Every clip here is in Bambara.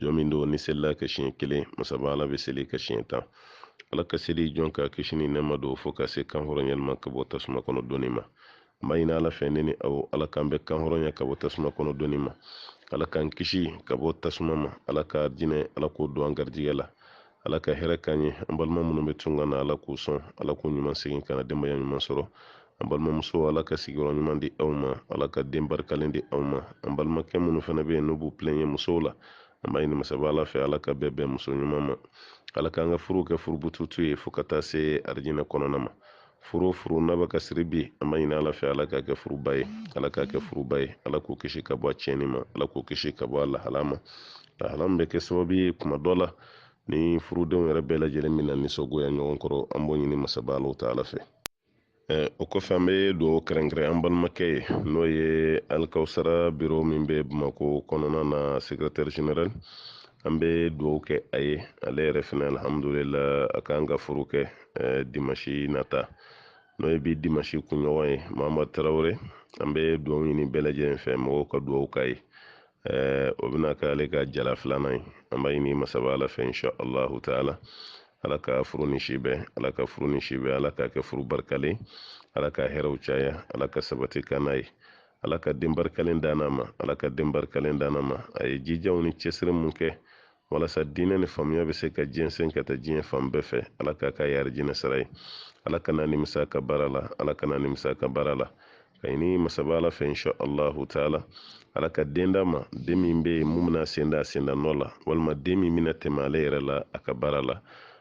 jɔn min don ni selila a kan siɲɛ kelen masaba ala bɛ seli a kan siɲɛ tan ala ka seli jɔn kan kisi ni nɛɛma don fo ka se kanhɔrɔnyali ma ka bɔ tasuma kɔnɔ doni ma n b'a ɲini ala fɛ ne ni aw ala k'an bɛɛ kanhɔrɔnya ka bɔ tasuma kɔnɔ doni ma ala k'an kisi ka bɔ tasuma ma ala ka arijinɛ ala k'o don an garijigɛ la ala ka hɛrɛ k'an ye an balima minnu bɛ tunga na ala k'u sɔn ala k'u ɲuman segin ka na denbaya ɲuman sɔrɔ an balimamusow ala ka sigiyɔrɔ ɲuman di aw ma ala ka den barikalen di aw ma an balimakɛ minnu fana bɛ yen n'u b'u pilɛɲe musow la an b'a ɲini masaba ala fɛ ala ka bɛɛ bɛn muso ɲuman ma ala k'an ka furuw kɛ furubututu ye fo ka taa se arijinɛ kɔnɔna ma furu n'a bɛ ka siri bi an b'a ɲini ala fɛ ala k'a kɛ furuba ye ala k'a kɛ furuba ye ala k'o kisi ka bɔ a tiɲɛni ma ala k'o kisi ka bɔ a lahala ma lahala min bɛ kɛ sababu ye kuma dɔ la ni furudenw yɛrɛ bɛɛ lajɛlen bɛna nisɔngoya ɲɔgɔn kɔrɔ an b'o ɲini masaba ala taala fɛ o kɔfɛ an bɛ dugawu kɛrɛnkɛrɛn an balimakɛ ye n'o ye alikawusara biro min bɛ bamakɔ kɔnɔna na sekirɛtɛri generali an bɛ dugawu kɛ a ye ale yɛrɛ fana alihamudulila a kan ka furu kɛ eh, dimasi nata n'o ye bi dimasi kunɲɔgɔn ye mama tarawele an bɛ dugawu ɲini bɛɛ lajɛlen fɛ mɔgɔw ka dugawu k'a ye eh, o bɛna kɛ ale ka jala filanan ye an b'a ɲini masaba ala fɛ insha allahu taala ala ka furu ni si bɛn ala ka furu ni si bɛn ala k'a kɛ furu barikalen ala ka hɛrɛw caya ala ka sabati k'an n'a ye ala ka den barikalen d'an n'a ma ala ka den barikalen d'an n'a ma a ye jijaw ni cɛsiri min kɛ walasa diinɛ ni faamuya bɛ se ka jɛnsɛn ka taa diɲɛ fan bɛɛ fɛ ala k'a k'a ye arijinɛ sara ye ala kan'a nimisa a ka baara la ala kan'a nimisa a ka baara la k'a ɲini masaba ala fɛ insha allahu taala ala ka den d'a ma den min bɛ yen min bɛna a sen da a senda nɔ la walima den min bɛna tɛmɛ ale yɛrɛ la a ka baara la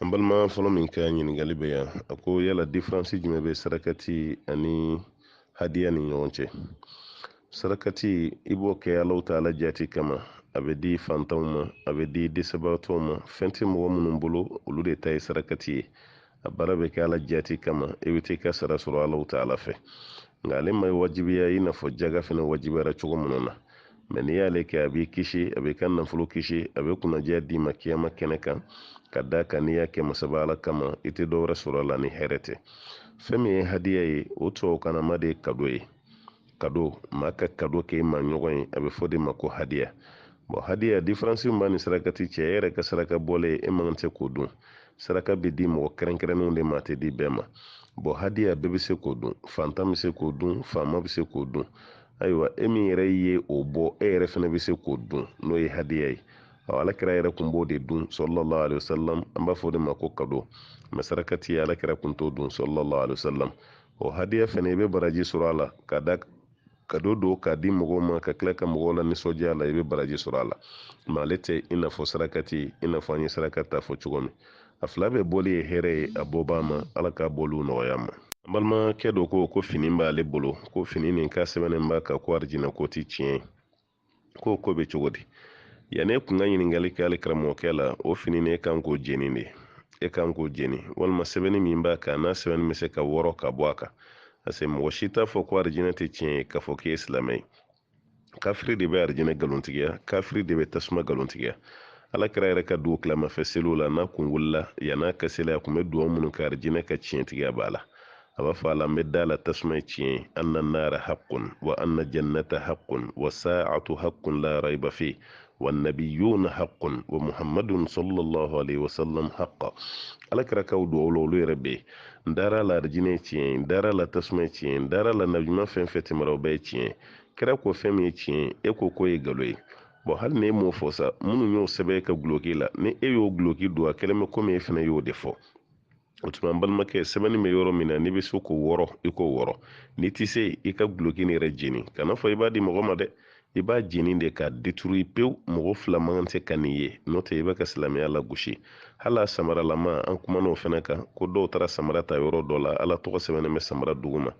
an balima fɔlɔ min ka ɲininkali bɛ yan a ko yala diferansi jumɛn bɛ sarakati ani hadiya ni ɲɔgɔn cɛ sarakati i b'o kɛ allahu taala jaati kama a bɛ di fantanw ma a bɛ di dɛsɛbagatɔw ma fɛn tɛ mɔgɔ minnu bolo olu de ta ye sarakati ye a baara bɛ kɛ ala jaati kama i bɛ taa i ka sara sɔrɔ allahu taala fɛ nka ale ma wajibiya i n'a fɔ jaga fana wajibiyara cogo minnu na mɛ n'i y'ale kɛ a b'i kisi a b'i ka nafolo kisi a bɛ kunnadiya d'i ma kiyama kɛnɛ kan ka da kan n'i y'a kɛ masaba ala kama i tɛ dɔwɛrɛ sɔrɔ a la ni hɛrɛ tɛ fɛn min ye hadiya ye o tubabukanama de ye kado ye kado maa ka kado kɛ i maaɲɔgɔn ye a bɛ f'o de ma ko hadiya bɔn hadiya diferansi min b'a ni sarakati cɛ e yɛrɛ ka saraka bɔlen e man kan tɛ k'o dun saraka bɛ di mɔgɔ kɛrɛnkɛrɛnnenw de ma a tɛ di bɛɛ ma bɔn hadiya bɛɛ bɛ se k'o dun fantan bɛ se k'o dun faama bɛ se k'o dun ayiwa e min yɛrɛ ye o bɔ e yɛrɛ fana bɛ se k'o dun n'o ye hadiya ye ɔ alakira yɛrɛ kun b'o de dun sallallahu alaihi wasallam an b'a fɔ o de ma ko kado mɛ sarakati alakira kun t'o dun sallallahu alaihi wasallam o hadiya fana i bɛ baraji sɔrɔ a la kado don k'a di mɔgɔw ma ka tila ka mɔgɔw la nisɔndiya la i bɛ baraji sɔrɔ a la mɛ ale tɛ i n'a fɔ sarakati i n'a fɔ an ye saraka ta fɔ cogo min a fila bɛɛ bɔli ye hɛrɛ ye a bɔbaa ma ala k'a bɔliw nɔgɔya ma an balimakɛ dɔ ko ko fini b'ale bolo ko fini nin k'a sɛbɛnnen b'a kan ko arijinɛ ko ti tiɲɛ ye k'o ko bɛ cogo di yanni e kun ka ɲininkali kɛ hali karamɔgɔkɛ la o fini nin e kan k'o jeni de e kan k'o jeni walima sɛbɛnni min b'a kan n'a sɛbɛnni bɛ se ka wɔrɔ ka bɔ a kan parce que mɔgɔ si t'a fɔ ko arijinɛ tɛ tiɲɛ ye k'a fɔ k'e ye silamɛ ye kafiri de bɛ arijinɛ nkalontigiya kafiri de bɛ tasuma nkalontigiya alakira yɛrɛ ka dugutilama fɛ seliw la n'a kun wulila yann'a ka seli a kun bɛ dugawu minnu kɛ arijinɛ ka tiɲɛtigiya b'a la a b'a fɔ a la n bɛ da la tasuma ye tiɲɛ ye anna naara haqqun wa anna jannata haqqun wa saatu haqqun la raiba fi wannabiyuna haqqun wa muhammadun sallallahu alaihi wasallam haqqa alakira ka dugawu la olu yɛrɛ bɛ n dara la arijinɛ tiɲɛ n dara la tasuma tiɲɛ n dara la nabiɲuman fɛn fɛn tɛmɛra o bɛɛ tiɲɛ kira ko fɛn min ye tiɲɛ e ko k'o ye nkalon ye bɔn hali ni e m'o fɔ sa minnu y'o sɛbɛn ka guloki la ni e y'o guloki don a kɛlen bɛ komi e fana y'o de fɔ o tuma n balimakɛ sɛbɛnni bɛ yɔrɔ min na n'i bɛ se k'o wɔrɔ i k'o wɔrɔ n'i tɛ se i ka guloki nin yɛrɛ jeni kana fɔ i b'a di mɔgɔ ma dɛ i b'a jeni de k'a détruire pewu mɔgɔ fila man kan tɛ ka nin ye n'o tɛ i bɛ ka silamɛya lagosi hali a samaralama an kumana o fana kan ko dɔw taara samara ta yɔrɔ dɔ la ala tɔgɔ sɛbɛnnen bɛ samara duguma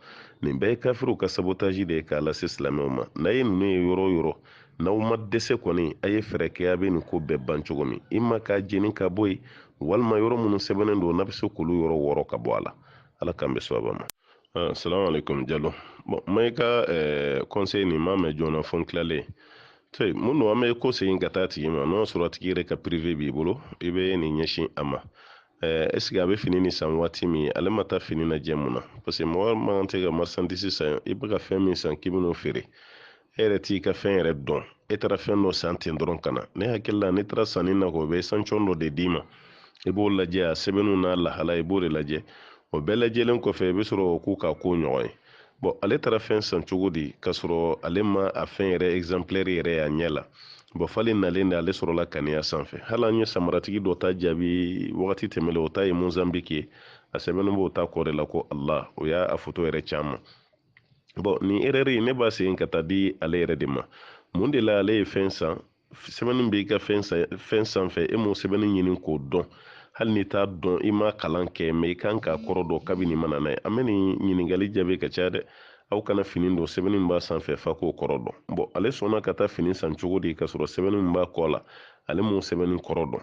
nin bɛɛ ye kafiriw ka sabotage de ye k'a lase silamɛw ma n'a ye ninnu ye yɔrɔ o yɔrɔ n'aw ma dɛsɛ kɔni a ye fɛɛrɛ kɛ a bɛ nin ko bɛɛ ban cogo min ima k'a jeni ka bɔ yen walima yɔrɔ minnu sɛbɛnnen don n'a bɛ se k'olu yɔrɔ wɔrɔ ka bɔ a la ala k'an bɛn sawaba ma ah, salamu alaikum jalo bon n ma i ka eh, conseil nin n m'a mɛn joona fo n tilalen te mun don an bɛ ko segin ka taa tigi ma n'o y'a sɔrɔ tigi yɛrɛ ka prive b'i bolo i bɛ nin ɲɛsin a ma eh, est ce que a bɛ fini nin san waati min ale ma taa fini lajɛ mun na parce que mɔgɔ man kan tɛ ka marchandise san i bɛ ka fɛn min san k'i bɛn'o feere e yɛrɛ t'i ka fɛn yɛrɛ dɔn e taara fɛn dɔ san ten dɔrɔn ka na ne hakili la n'e taara sanni na u bɛ échantillon dɔ de d'i ma i b'o lajɛ a sɛbɛnniw n'a lahala i b'o de lajɛ o bɛɛ lajɛlen kɔfɛ i bɛ sɔrɔ k'u ka ko ɲɔgɔn ye bɔn ale taara fɛn san cogo di k'a sɔrɔ ale ma a fɛn yɛrɛ exemplaire yɛrɛ y'a ɲɛ la bɔn f'ale nalen de ale sɔrɔla ka nin y'a sanfɛ hali an ye samaratigi dɔ ta jaabi wagati tɛmɛlen o ta ye mozanbiki ye a sɛbɛnnen b'o ta kɔ de la ko ala o y'a a foto yɛrɛ c'an ma bɔn nin erɛri ne b'a segin ka taa di ale yɛrɛ de ma mun de la ale ye fɛn san sɛbɛnni b'i ka fɛn sanfɛ e m'o sɛbɛnni ɲini k'o dɔn hali n'i t'a dɔn i ma kalan kɛ mɛ i kan k'a kɔrɔ dɔn kabini i mana n'a ye an bɛ nin ɲininkali jaabi ka caya dɛ aw kana fini don sɛbɛnni min b'a sanfɛ f'a k'o kɔrɔ dɔn bɔn ale sɔnna ka taa fini san cogo di k'a sɔrɔ sɛbɛnni min b'a kɔ la ale m'o sɛbɛnni kɔrɔ dɔn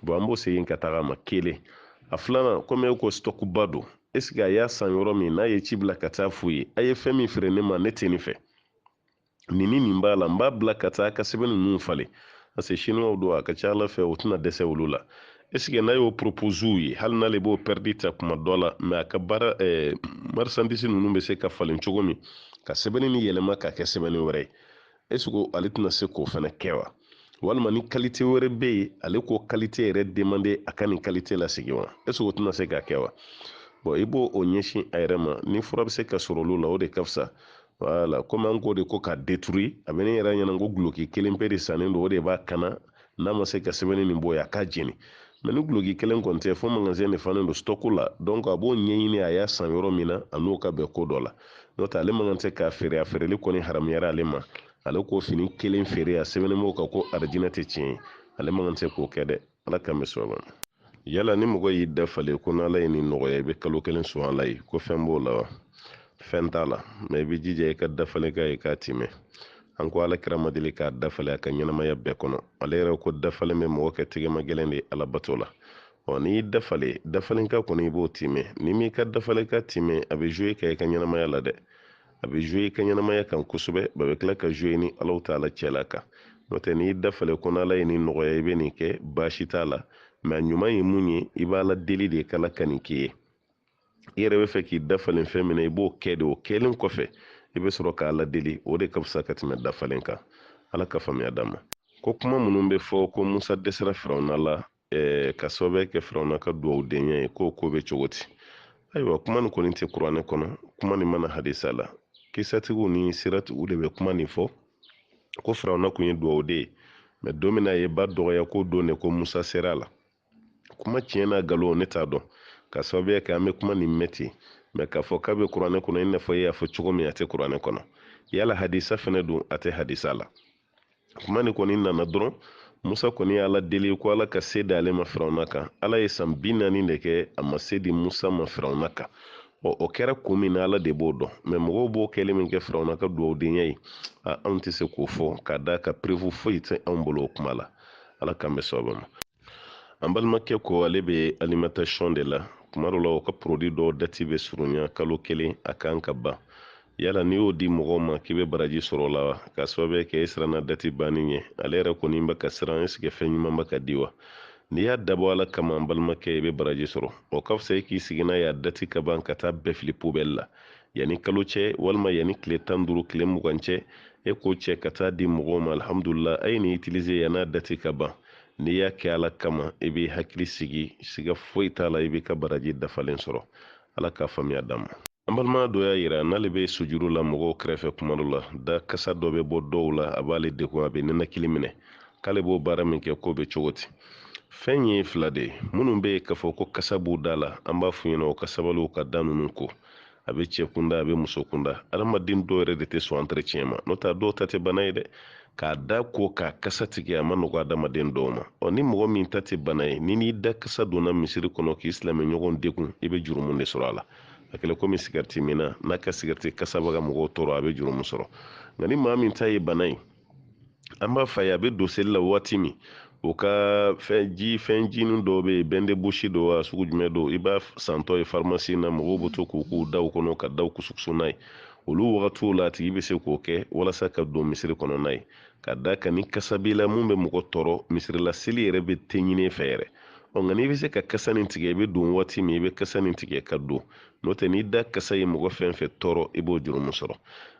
bɔn an b'o segin ka taga a ma kelen a filanan komi e ko sitɔkuba don esike a y'a san yɔrɔ min n'a ye ci bila ka taa f'u ye a ye fɛn min feere ne ma ne tɛ nin fɛ nin ni nin b'a la n b'a bila ka taa ka sɛbɛn ninnu falen parce que chinois don a ka ca ala fɛ o tɛna dɛsɛ olu la esike n'a y'o propose u ye hali n'ale b'o pɛridi ta kuma dɔ la mɛ a ka baara eh, marisandisi ninnu bɛ se ka falen cogo min ka sɛbɛnni nin yɛlɛma ka kɛ sɛbɛnni wɛrɛ ye esiko ale tɛna se k'o fana kɛ wa walima ni kalite wɛrɛ bɛ yen ale k'o kalite yɛrɛ demande a ka nin kalite lasegin wa esiko o tɛna se k'a kɛ wa bɔn i b'o ɲɛsin a yɛrɛ ma ni fura bɛ se ka sɔrɔ olu la o de ka fisa wala komi an k'o de ko k'a deturi a bɛ ne yɛrɛ ɲɛna ko guloki kelen pe de sannen don o de b'a kana n'a ma se ka sɛbɛnni nin bɔ yen a k'a jeni mɛ ni guloki kelen kɔni tɛ fo magasin de falen don stɔku la dɔnku a b'o ɲɛɲini a y'a san yɔrɔ min na a n'o ka bɛn ko dɔ la n'o tɛ ale man kan tɛ k'a feere a feereli kɔni haramuyara ale ma ale k'o fini kelen feere a sɛbɛnnen b'o kan ko arijinɛ tɛ tiɲɛ ye ale man kan tɛ k'o kɛ dɛ ala k'an bɛ sɔrɔ yala ni mɔgɔ y'i dafalen ko n'ala ye nin nɔgɔya i bɛ kalo kelen sun ala ye ko fɛn b'o la wa fɛn t'a la mɛ i bɛ jija i ka dafalenkan i k'a timɛ an ko ala kira ma deli k'a dafalen a ka ɲɛnamaya bɛɛ kɔnɔ ale yɛrɛ ko dafalen bɛ mɔgɔ kɛ tɛgɛmagɛlɛn de alabato la ɔ n'i dafalen dafalenkan kɔni i b'o timɛ n'i m'i ka dafalenkan timɛ a bɛ zuwe ka i ka ɲɛnamaya la dɛ a bɛ zuwe i ka ɲɛnamaya kan kosɛbɛ a bɛ tila ka zuwe ni alahu taala cɛla kan n'o tɛ n'i dafalen ko n'ala ye nin nɔgɔya i bɛ nin kɛ baasi t'a la mɛ a ɲuman ye mun ye i b'ala deli de k'ala ka nin k'i ye i yɛrɛ bɛ fɛ k'i dafalen fɛn min na i b'o kɛ de o kɛlen kɔfɛ i bɛ sɔrɔ k'ala deli o de ka fisa ka tɛmɛ dafalen kan ala ka faamuya d'an ma ko kuma minnu bɛ fɔ ko musa dɛsɛra firawuna la ɛɛ ka sababuya kɛ firawuna ka duwawudenya ye k'o ko bɛ cogo di ayiwa kuma nin kɔni tɛ kuranɛ kɔnɔ kuma nin ma na hadisa la kisatigiw ni siratigiw de bɛ kuma nin fɔ ko firawuna tun ye duwawuden ye mɛ don min na a ye ba dɔgɔya k'o don de ko musa sera a la kuma tiɲɛ n'a nkalon ne t'a dɔn ka sababuya kɛ an bɛ kuma nin mɛn ten mɛ k'a fɔ k'a bɛ kuranɛ kɔnɔ i n'a fɔ e y'a fɔ cogo min a tɛ kuranɛ kɔnɔ yala hadisa fɛnɛ don a tɛ hadisa la kuma nin kɔni nana dɔrɔn musa kɔni ye ala deli ko ala ka se d'ale ma firawuna kan ala ye san bi naani de kɛ a ma se di musa ma firawuna kan ɔ o kɛra kun min na ala de b'o dɔn mɛ mɔgɔw b'o kɛlen min kɛ firawuna ka duwawudenya ye anw tɛ se k'o fɔ k'a d'a kan perefu foyi tɛ anw bolo o kuma la ala k'an bɛn sɛbɛ ma an balimakɛ ko ale bɛ alimentation de la kuma dɔ la o ka porodi dɔw dati bɛ surunya kalo kelen a kan ka ban yala n'i y'o di mɔgɔw ma k'i bɛ baraji sɔrɔ o la wa k'a sababu kɛ e siranna dati banni ɲɛ ale yɛrɛ kɔni bɛ ka siran esike fɛn ɲuman bɛ ka di wa n'i y'a dabɔ ala kama an balimakɛ i bɛ baraji sɔrɔ o ka fisa e k'i sigi n'a ye a dati ka ban ka taa bɛɛ fili pobɛli la yanni kalo cɛ walima yanni tile tan duuru tile mugan cɛ e k'o cɛ ka taa di mɔgɔw ma alihamudulila a ye nin itilize yann'a dati ka ban n'i y'a kɛ ala kama i b'i hakili sigi siga foyi t'a la i b'i ka baraji dafalen sɔrɔ ala k'a faamuya d'an ma an balima dɔ y'a yira n'ale bɛ sujuru la mɔgɔw kɛrɛfɛ kuma dɔ la da kasa dɔ bɛ bɔ dɔw la a b'ale degun a bɛ ninakili minɛ k'ale b'o baara min kɛ k'o bɛ cogo di fɛn ye fila de ye minnu bɛ yen k'a fɔ ko kasa b'u da la an b'a f'u ɲɛna u ka sabali u ka da ninnu ko a bɛ cɛ kunda a bɛ muso kunda adamaden dɔw yɛrɛ de tɛ sɔn entretien ma n'o tɛ dɔw ta tɛ bana ye dɛ k'a da ko k'a kasa tigɛ a man nɔgɔ adamaden dɔw ma ɔ ni mɔgɔ min ta tɛ bana ye n'i n'i da kasa donna misiri kɔnɔ k'i silamɛ ɲɔgɔn degun i bɛ jurumu de sɔrɔ a la a kɛlen komi sigariti minna n'a ka sigariti kasa bɛ ka mɔgɔw tɔɔrɔ a bɛ jurumu sɔrɔ nka ni maa min ta ye bana ye an b'a f'a ye a bɛ don seli la waati min o ka fɛn ji fɛn jinin dɔw bɛ yen bain de bouche don wa sugu jumɛn don i b'a santɔ ye farimasi na mɔgɔw bɛ to k'u k'u daw kɔnɔ ka daw kusukusu n'a ye olu wagatiw la a tigi bɛ se k'o kɛ walasa ka don misiri kɔnɔ n'a ye ka d'a kan ni kasa b'i la mun bɛ mɔgɔ tɔɔrɔ misirila seli yɛrɛ bɛ tɛ ɲin'i fɛ yɛrɛ ɔ nka n'i bɛ se ka kasa nin tigɛ i bɛ don waati min i bɛ kasa nin tigɛ ka don n'o tɛ n'i da kasa ye mɔgɔ fɛn fɛn tɔɔrɔ i b'o jurumu sɔrɔ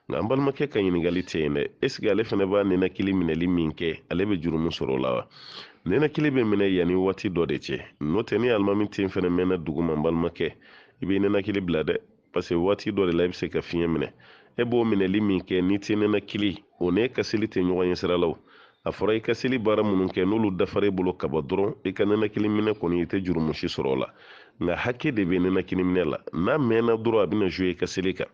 nka an balimakɛ ka ɲininkali tɛ yen dɛ esike ale fana b'a ninakili minɛli min kɛ ale bɛ jurumu sɔrɔ o la wa ninakili bɛ minɛ yanni waati dɔ de cɛ n'o tɛ ni alimami ten fana mɛnna duguma an balimakɛ i b'i ninakili bila dɛ paseke waati dɔ de la i bɛ se ka fiɲɛ minɛ e b'o minɛli min kɛ n'i tɛ ninakili o n'e ka seli tɛ ɲɔgɔn ye sira la a fɔra i ka seli baara minnu kɛ n'olu dafara i bolo kaban dɔrɔn i ka ninakili minɛ kɔni i tɛ jurumu si sɔrɔ o la nka hakɛ de bɛ ninakili minɛ la n'a mɛnna dɔrɔn a bɛna zuwe i ka seli kan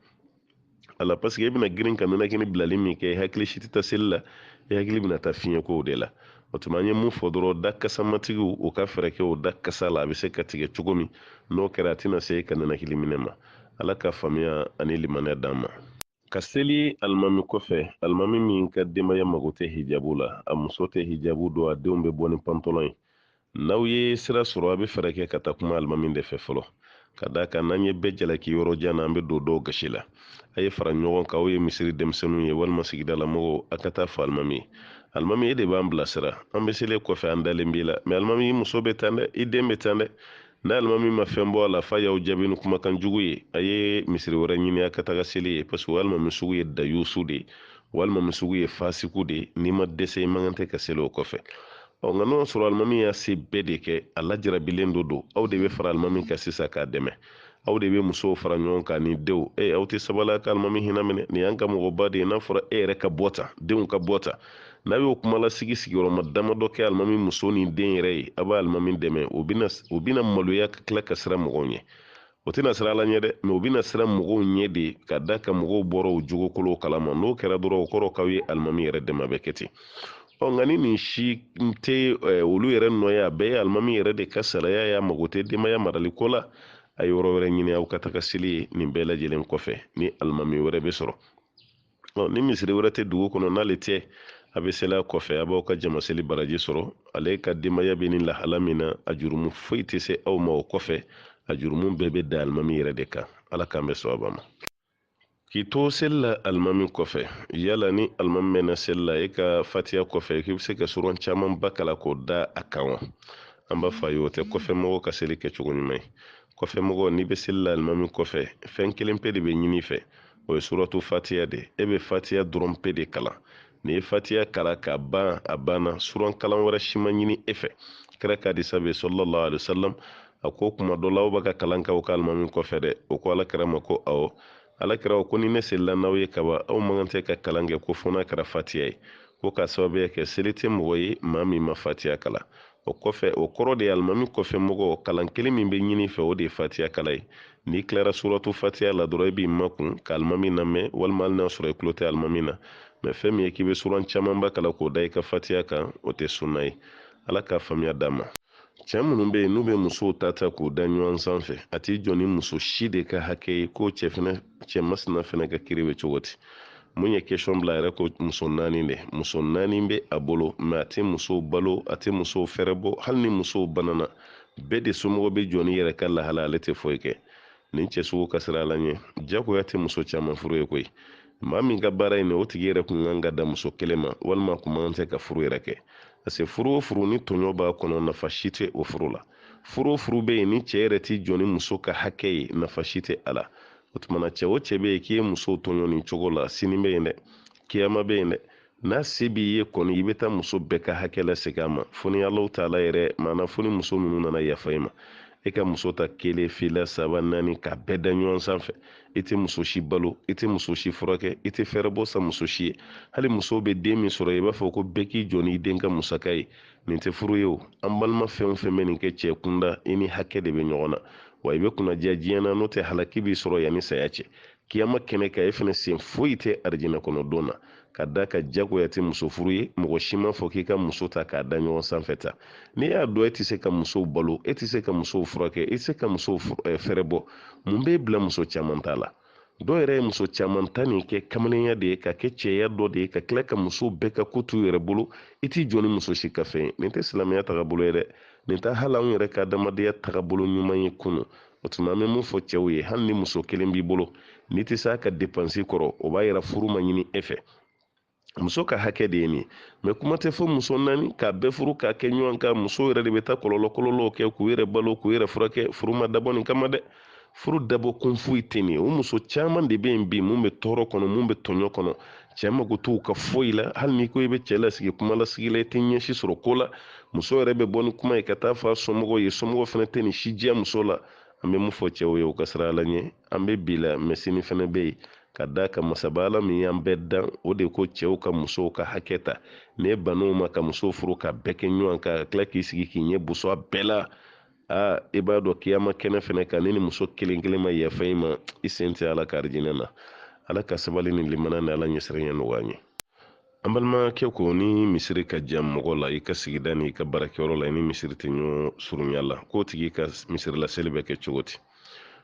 ala paseke e bɛna girin ka ninakili bilali min kɛ i hakili si tɛ taa seli la i hakili bɛna taa fiɲɛkow de la o tuma an ye mun fɔ dɔrɔn da kasamatigiw u ka fɛɛrɛ kɛ o da kasa la a bɛ se ka tigɛ cogo min n'o kɛra a tɛna se e ka ninakili minɛ ma ala ka faamuya ani limaniya d'an ma ka seli alimami kɔfɛ alimami min ka denbaya mago tɛ hijabu la a muso tɛ hijabu don a denw bɛ bɔ ni pantɔlɔn ye n'aw ye sira sɔrɔ a bɛ fɛɛrɛ kɛ ka taa kuma alimami de fɛ fɔlɔ ka d'a kan n'an ye bɛɛ jalaki yɔrɔ jan na an bɛ don dɔw gasi la a ye fara ɲɔgɔn kan aw ye misiri denmisɛnninw ye walima sigida la mɔgɔw a ka taa fɔ alimami ye alimami e de b'an bilasira an bɛ seli i kɔfɛ an dalen b'i la mɛ alimami i muso bɛ tan dɛ i den bɛ tan dɛ n'alimami ma fɛn bɔ a la f'a y'aw jaabi ni kumakan jugu ye a ye misiri wɛrɛ ɲini a ka taga seli yen parce que o alimami sugu ye dayusu de ye o alimami sugu ye fasiku de ye n'i ma dɛsɛ i man kan tɛ ka seli o kɔfɛ ɔ nka n'o sɔrɔ alimami y'a se bɛɛ de kɛ a lajarabilen don aw de bɛ fara alimami kan sisan k'a dɛmɛ aw de bɛ musow fara ɲɔgɔn kan ni denw e aw tɛ sabali a ka alimami hinɛ minɛ nin y'an ka mɔgɔba de ye n'a fɔra e yɛrɛ ka bɔ tan denw ka bɔ tan n'a y'o kumalasigi sigiyɔrɔma damadɔ kɛ alimami muso ni den yɛrɛ ye a bɛ alimami dɛmɛ o bɛna o bɛna maloya ka tila ka siran mɔgɔw ɲɛ o tɛna siran ala ɲɛ dɛ mɛ o bɛna siran mɔgɔw ɲɛ de ka d'a kan mɔgɔw bɔra o jogo kolonw kalama n'o kɛra dɔrɔn o kɔrɔ k'aw ye alimami yɛrɛ dɛmɛ a bɛ kɛ ten ɔ nka ni nin si tɛ olu yɛrɛ nɔ ye a bɛɛ ye alimami yɛrɛ de ka saraya y'a mago tɛ denbaya marali ko la a ye yɔrɔ wɛrɛ ɲini aw ka taga seli yen nin bɛɛ lajɛlen kɔfɛ ni alimami wɛrɛ bɛ sɔrɔ ni misiri wɛrɛ tɛ dugu kɔnɔ n'ale tɛ a bɛ seli a kɔfɛ a b'aw ka jamaseli baraji sɔrɔ ale ka denbaya bɛ ni lahala min na a jurumu foyi tɛ se aw ma o kɔfɛ a jurumu bɛɛ bɛ da alimami yɛrɛ de kan ala k'an bɛn sawaba ma k'i to seli la alimami kɔfɛ yala ni alimami mɛnna seli la e ka fatiya kɔfɛ k'i bɛ se ka suran camanba kalan k'o da a kan wa an b'a fɔ a ye o tɛ kɔfɛ mɔgɔw ka seli kɛcogo ɲuman ye kɔfɛ mɔgɔ n'i bɛ seli la alimami kɔfɛ fɛn kelen pe de bɛ ɲini i fɛ o ye suratu fatiya de e bɛ fatiya dɔrɔn pe de kalan n'i ye fatiya kalan k'a ban a banna suran kalan wɛrɛ si ma ɲini e fɛ kira ka hadisa bɛ sallallahu alaihi wasallam a ko kuma dɔ la aw bɛ ka kalan kɛ aw ka alimami kɔfɛ dɛ o ko ala kira ma ko awɔ ala kira ko ni ne selila n'aw ye kaban aw man kan tɛ ka kalan kɛ ko fo n'a kɛra fatiya ye ko k'a sababuya kɛ seli tɛ mɔgɔ ye maa min ma fatiya kalan o kɔfɛ o kɔrɔ de ye alimami kɔfɛ mɔgɔ kalan kelen min bɛ ɲini i fɛ o de ye fatiya kalan ye n'i tilara suratu fatiya la dɔrɔn i b'i makun ka alimami lamɛn walima hali n'a sɔrɔ i tulo tɛ alimami lamɛn fɛn min ye k'i bɛ suran camanba kalan k'o da i ka fatiya kan o tɛ sunna ye ala k'a faamuya d'an ma cɛ minnu bɛ yen n'u bɛ musow ta ta k'u da ɲɔgɔn sanfɛ a t'i jɔ ni muso si de ka hakɛ ye k'o cɛ fɛnɛ cɛ masina fɛnɛ ka kiri bɛ cogo di mun ye question bila yɛrɛ ko muso naani de muso naani bɛ a bolo mɛ a tɛ musow balo a tɛ musow fɛɛrɛbɔ hali ni musow banana bɛɛ de somɔgɔw bɛ jɔ n'i yɛrɛ ka lahala ale tɛ foyi kɛ nin cɛ sugu ka siran ala ɲɛ jagoya tɛ muso caman furu ye koyi maa min ka baara in o tigi yɛrɛ kun ka kan ka dan muso kelen ma walima kun man kan tɛ ka furu yɛrɛ kɛ parce que furu o furu ni tɔɲɔ b'a kɔnɔ nafa si tɛ o furu la furu o furu bɛ yen ni cɛ yɛrɛ tɛ jɔ ni muso ka hakɛ ye nafa si tɛ a la o tuma na cɛ o cɛ bɛ yen k'i ye musow tɔɲɔ nin cogo la sini bɛ yen dɛ kiyama bɛ yen dɛ n'a se b'i ye kɔni i bɛ taa muso bɛɛ ka hakɛ lasegin a ma fo ni alahu taala yɛrɛ mana fo ni muso ninnu nana yafa i ma i ka muso ta kelen fila saba naani k'a bɛɛ da ɲɔgɔn sanfɛ i tɛ muso si balo i tɛ muso si furakɛ i tɛ fɛɛrɛbɔ san muso si ye hali muso bɛ den min sɔrɔ i b'a fɔ ko bɛɛ k'i jɔ n'i den ka musaka ye nin tɛ furu ye o an balima fɛn o fɛn bɛ nin kɛ cɛ kunda i ni hakɛ de bɛ ɲɔgɔn na wa i bɛ kunnadiya diɲɛ na n'o tɛ halaki b'i sɔrɔ yanni saya cɛ kiyama kɛnɛ kan e fana sen foyi tɛ arijinɛ kɔnɔ don na ka da ka jagoya tɛ muso furu ye mɔgɔ si ma fɔ k'i ka muso ta k'a da ɲɔgɔn sanfɛ tan n'i y'a dɔn e tɛ se ka musow balo e tɛ se ka musow furakɛ e tɛ se ka musow eh, fɛɛrɛbɔ mun b'e bila muso caman ta la dɔw yɛrɛ ye muso caman ta nin kɛ kamalenya de ye ka kɛ cɛya dɔ de ye ka tila ka muso bɛɛ ka ko t'u yɛrɛ bolo i t'i jɔ ni muso si ka fɛn ye nin tɛ silamɛya tagabolo ye dɛ nin tɛ hali anw yɛrɛ ka adamadenya tagabolo ɲuman ye kunu o tuma an bɛ mun fɔ cɛw ye hali ni muso kelen b'i bolo n'i tɛ se a ka depansi kɔrɔ o b'a yira furu ma ɲini e fɛ muso ka hakɛ de ye nin ye mɛ kuma tɛ fɔ muso naani k'a bɛɛ furu k'a kɛ ɲɔgɔn kan muso yɛrɛ de bɛ taa kɔlɔlɔ kɔlɔlɔw kɛ k'u yɛrɛ balo k'u yɛrɛ furakɛ furu ma dabɔ nin kama dɛ furu dabɔ kun foyi tɛ nin ye o muso caman de bɛ yen bi mun bɛ tɔɔrɔ kɔnɔ mun bɛ tɔɲɔ kɔnɔ cɛ mago t'u ka foyi la hali n'i ko i bɛ cɛ lasigi kuma lasigi la i tɛ ɲɛ si sɔrɔ ko la muso yɛrɛ bɛ bɔ ni kuma ye ka taa fɔ a somɔgɔw ye somɔgɔw fana tɛ nin si diya muso la an bɛ mun fɔ cɛw ye u ka siran ala ɲɛ an bɛ bi la mɛ sini fana bɛ yen ka da ka masaba ala min y'an bɛɛ dan o de ko cɛw ka musow ka hakɛ ta n'e ban'o ma ka muso furu k'a bɛɛ kɛ ɲɔgɔn kan ka tila k'i sigi k'i ɲɛ boso a bɛɛ la aa i b'a dɔn kiyama kɛnɛ fɛnɛ kan ni ni muso kelen kelen ma yafa i ma i sen tɛ ala ka arijinɛ na ala ka sabali ni limana ni ala ɲɛsiranya nɔgɔya ye an balimakɛ ko ni misiri ka jan mɔgɔ la i ka sigida ni i ka baarakɛyɔrɔ la i ni misiri tɛ ɲɔgɔn surunya la k'o tigi ka misirilaseli bɛ kɛ cogo di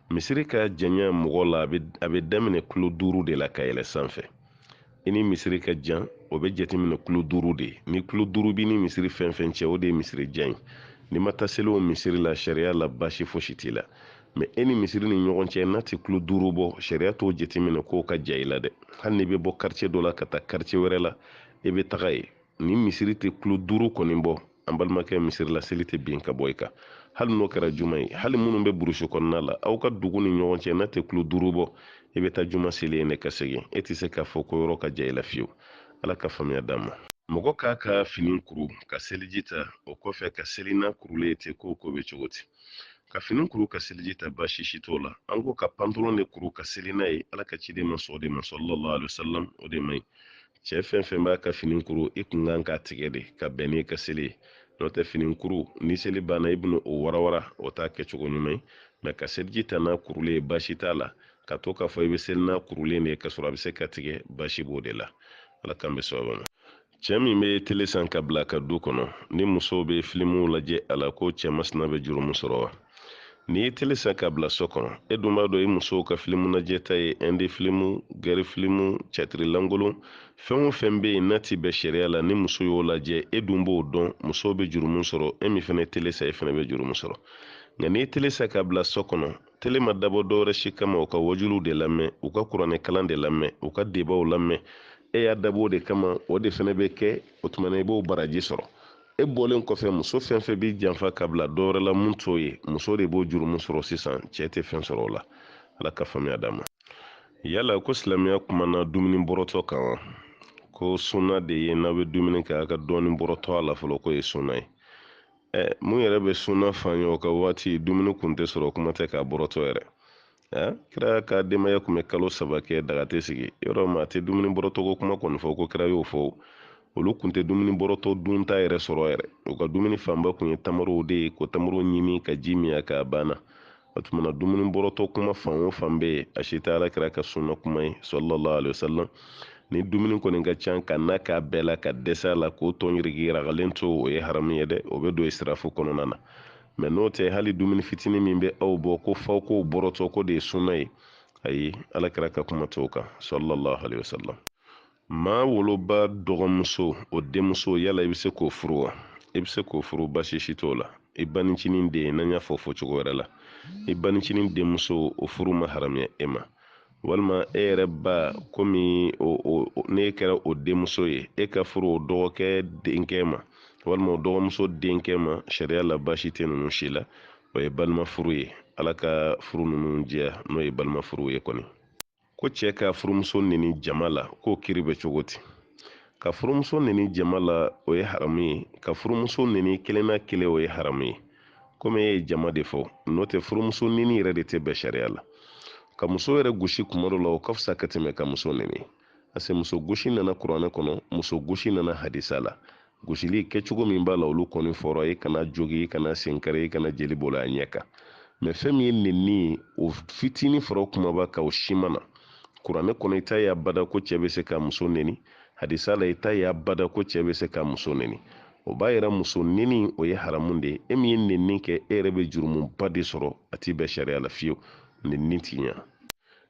misiri ka janya mɔgɔ la a bɛ daminɛ kulo duuru de la ka yɛlɛ sanfɛ i ni misiri ka jan o bɛ jateminɛ kulo duuru de ye ni kulo duuru b'i ni misiri fɛn fɛn cɛ o de ye misiri jan ye n'i ma taa seli o misiri la sariya la baasi fosi t'i la mɛ e ni misiri ni ɲɔgɔn cɛ n'a tɛ kulo duuru bɔ sariya t'o jateminɛ k'o ka jan i la dɛ hali n'i bɛ bɔ quartier dɔ la ka taa quartier wɛrɛ la i bɛ taga yen ni misiri tɛ kulo duuru kɔni bɔ an balimakɛ misiri la seli tɛ bin ka bɔ i kan hali n'o kɛra juma ye hali minnu bɛ burusi kɔnɔna la aw ka dugu ni ɲɔgɔn cɛ n'a tɛ kulo duuru bɔ i bɛ taa juma seli yen de ka segin e tɛ se k'a fɔ ko yɔrɔ ka jan i la fiyewu ala ka faamuya d'an ma mɔgɔ k'a ka fini kuru ka seliji ta o kɔfɛ ka seli n'a kurulen tɛ ko k'o bɛ cogo di ka fini kuru ka seliji ta baasi si t'o la an ko ka pantalon de kuru ka seli n'a ye ala ka ciden ma sɔn o de ma sallallahu alaihi wasallam o de man ɲi cɛɛ fɛn fɛn b'a ka fini kuru i ka kan k'a tigɛ de ka bɛn n'i ka seli ye n'o tɛ fini kuru ni seli banna i bɛna o warawara o t'a kɛcogo ɲuman ye mɛ ka seliji ta n'a kurulen ye baasi t'a la ka to k'a fɔ i bɛ seli n'a kurulen de ye k'a sɔrɔ a bɛ se ka tigɛ baasi b'o de la ala k'an bɛn sawaba ma cɛɛ min bɛ tele san k'a bila a ka du kɔnɔ ni musow bɛ filimuw lajɛ a la ko cɛɛ masina bɛ jurumu sɔrɔ wa n'i ye tele san ka bila so kɔnɔ e dun b'a dɔn i musow ka filimu najɛta ye ɛndi filimu gɛri filimu cɛtiri lankolon fɛn o fɛn bɛ yen n'a ti bɛn sariya la ni muso y'o lajɛ e dun b'o dɔn musow bɛ jurumu sɔrɔ e min fana ye tele san e fana bɛ jurumu sɔrɔ nka n'i ye tele san ka bila so kɔnɔ tele ma dabɔ dɔwɛrɛ si kama u ka wajuliw de lamɛn u ka kuranɛ kalan de lamɛn u ka debaw lamɛn e y'a dabɔ o de kama o de fana bɛ kɛ o tuma na i b'o baraji sɔrɔ e bɔlen kɔfɛ muso fɛn fɛn b'i janfa ka bila dɔ wɛrɛ la mun t'o ye muso de b'o jurumu sɔrɔ sisan cɛ tɛ fɛn sɔrɔ o la ala ka faamuya d'a ma yala ko silamɛya kumana dumuni bɔrɔtɔ kan wa ko sunna de ye n'aw bɛ dumuni kɛ a ka dɔɔni bɔrɔtɔ a la fɔlɔ k'o ye sunna ye ɛ mun yɛrɛ bɛ sunna fa ye o ka waati dumuni kun tɛ sɔrɔ kuma tɛ k'a bɔrɔtɔ yɛrɛ a kira ka denbaya kun bɛ kalo saba kɛ daga tɛ sigi yɔrɔ maa tɛ dumuni bɔrɔtɔko kuma kɔni fɔ ko kira y'o fɔ olu kun tɛ dumuni bɔrɔtɔ dunta yɛrɛ sɔrɔ yɛrɛ u ka dumuni fanba kun ye tamarow de ye ko tamaro ɲimi ka ji min a kan a banna o tuma na dumuni bɔrɔtɔ kuma fan o fan bɛ yen a si tɛ ala kira ka sunna kuma ye sallallahu alaihi wasallam ni dumuni kɔni ka ca ka n'a k'a bɛɛ la ka dɛsɛ a la k'o tɔ yirigi ragalen to o ye haramu ye dɛ o bɛ don israfu kɔnɔna na mɛ n'o tɛ hali dumuni fitinin min bɛ aw bɔ k'aw fa aw k'o bɔrɔtɔ k'o de ye sunna ye ayi ala kira ka kuma t'o kan sallallahu alaihi wasallam maa woloba dɔgɔmuso o denmuso yala i bɛ se k'o furu wa i bɛ se k'o furu baasi si t'o la i banicinin den n'an y'a fɔ fɔcogo wɛrɛ la i banicinin denmuso o furu ma haramuya e ma walima e yɛrɛ ba komi n'e kɛra o denmuso ye e ka furu o dɔgɔkɛ denkɛ ma walima o dɔgɔmuso denkɛ ma sariya la baasi tɛ ninnu si la o ye balima furu ye ala ka furu ninnu diya n'o ye balima furu ye kɔni ko cɛ ka furumuso neni jama la k'o kiri bɛ cogo di ka furumuso neni jama la o ye haramu ye ka furumuso neni kelen na kelen o ye haramu ye komi e ye jama de fɔ n'o tɛ furumuso neni yɛrɛ de tɛ bɛn sariya la ka muso yɛrɛ gosi kuma dɔ la o ka fisa ka tɛmɛ ka muso neni parce que muso gosi nana kuranɛ kɔnɔ muso gosi nana hadisa la gosili kɛcogo min b'a la olu kɔni fɔra i kan'a jogin i kan'a sen kari i kana jeli bolo a ɲɛ kan mɛ fɛn min ye nenni ye o fitinin fara kumaba kan o si ma na kuranɛ kɔnɔ i t'a ye abada ko cɛ bɛ se ka muso neni hadisa la i t'a ye abada ko cɛ bɛ se ka muso neni o b'a yira muso neni o ye haramu de ye e min ye nenni kɛ e yɛrɛ bɛ jurumuba de sɔrɔ a ti bɛn sariya la fiyewu nenni ti ɲa